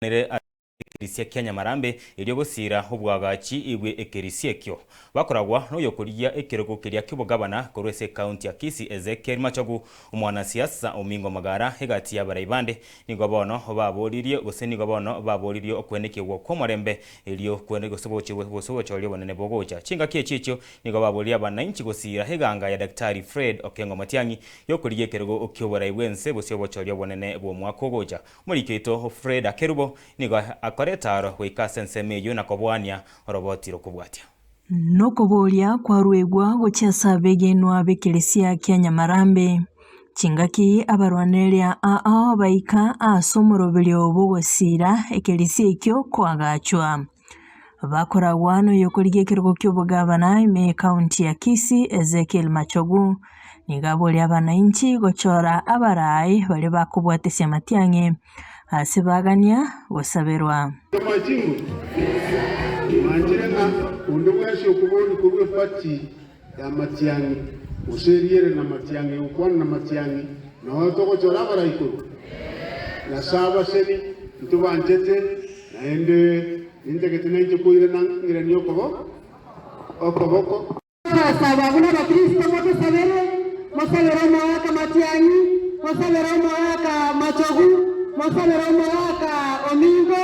batenenire ase ekerisia kia Nyamarambe, erio gosiira obwagachi bwe ekerisia ekio. Bakoragwa noyokorigia ekerogo keria ki'obogabana korwa ase ekaunti ya Kisii Ezekiel Machogu, omwana siasa omino omogara egati y'abarai bande, nigo bono baboririe gose nigo bono baboririe okwenekigwa kw'omorembe erio kwene gose gochirwe gose gochoria obonene bogocha chingaki echi echio nigo baboririe abanainchi gosiira eganga ya Daktari Fred Okengo Matiang'i yokorigia ekerogo ki'oborai bw'ense gose ogochoria obonene bw'omwaka ogocha. Omoriki oito Freda Kerubo nigo akore etaaro goika ase ensemo eyio na koboania oroboti rokobwatia. Nokoboria kwaruegwa gochia ase abegenwa b'ekeresia kia Nyamarambe, Chingaki abarwanereria aa baika ase omoroberio bw'ogosiira ekeresia ekio koagachwa? Bakoragwa noyokorigia ekerogo ki'obogavana ime ekaunti ya Kisii Ezekiel Machogu nigo aboria abanainchi gochora abarai baria bakobwatesia amatiang'e ase bagania gosaberwa. y'amatiang'i, gose eriere namatiang'i, ogokwana namatiang'i, noyo togochora abaraikuru? Nyasae abaseni, intwe banchete, naende nintagete nainche koirana ng'iranie okobo okoboko. Tosaba buna Abakristo motusabere, mosabere omoaka matiang'i, mosabere omoaka machogu, mosabere omoaka ominto,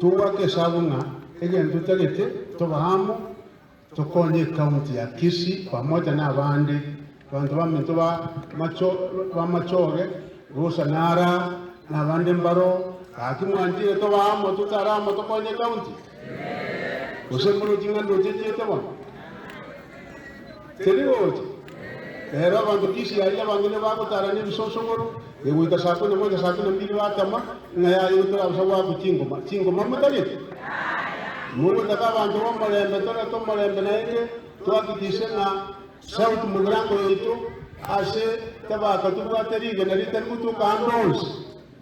Togwake esabu ng'a egento totagete toba amo tokonye ekaunti ya Kisii pamoja na abande banto baminto ba Bamachoge, Rusa na ara na abande mbaro. Gaki mwanchire toba amo totare amo tokonye ekaunti? Gose morochie ng'a ndochechiete bono? Teri gocha. Ere abanto kisi aria abange nigo bagotaara nebisosogoro, egoita saa kumi na moja, saa kumi na mbiri batama, ng'a yaye igo torabaisa goakwa chingoma, chingoma motagete? Mogotaka abanto b'omorembe, torete omorembe naende twakikise ng'a sauti momirango yaito ase tabaka tobwate rigena ritari gotuoka ande onsi.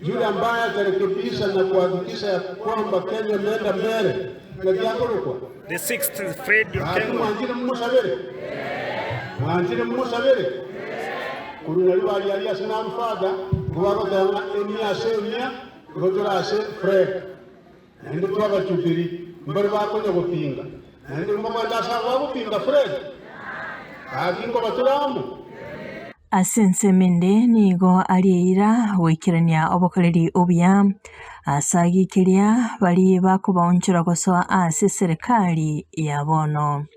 Yule ambaye atarekebisha na kuhakikisha ya kwamba Kenya imeenda mbele, ngaki akorokwa? The sixth is Fred Gaki Okengo. mwanchire mumusabere? Mwanchire mumusabere? Korwa nari bari ari ase n'abafada, nigo bagoteba ng'a emia ase emia, nigo tore ase Fred. Naende buna abachupiri mbare bakonya gopinga, naende nkogoeta ase agwo agopinga Fred, gaki nkobatura amo. Ase ensemo ende nigo ari eira goikerania obokoreri obuya. Ase agio keria baria bakobaonchora gosoa ase eserekari ya bono.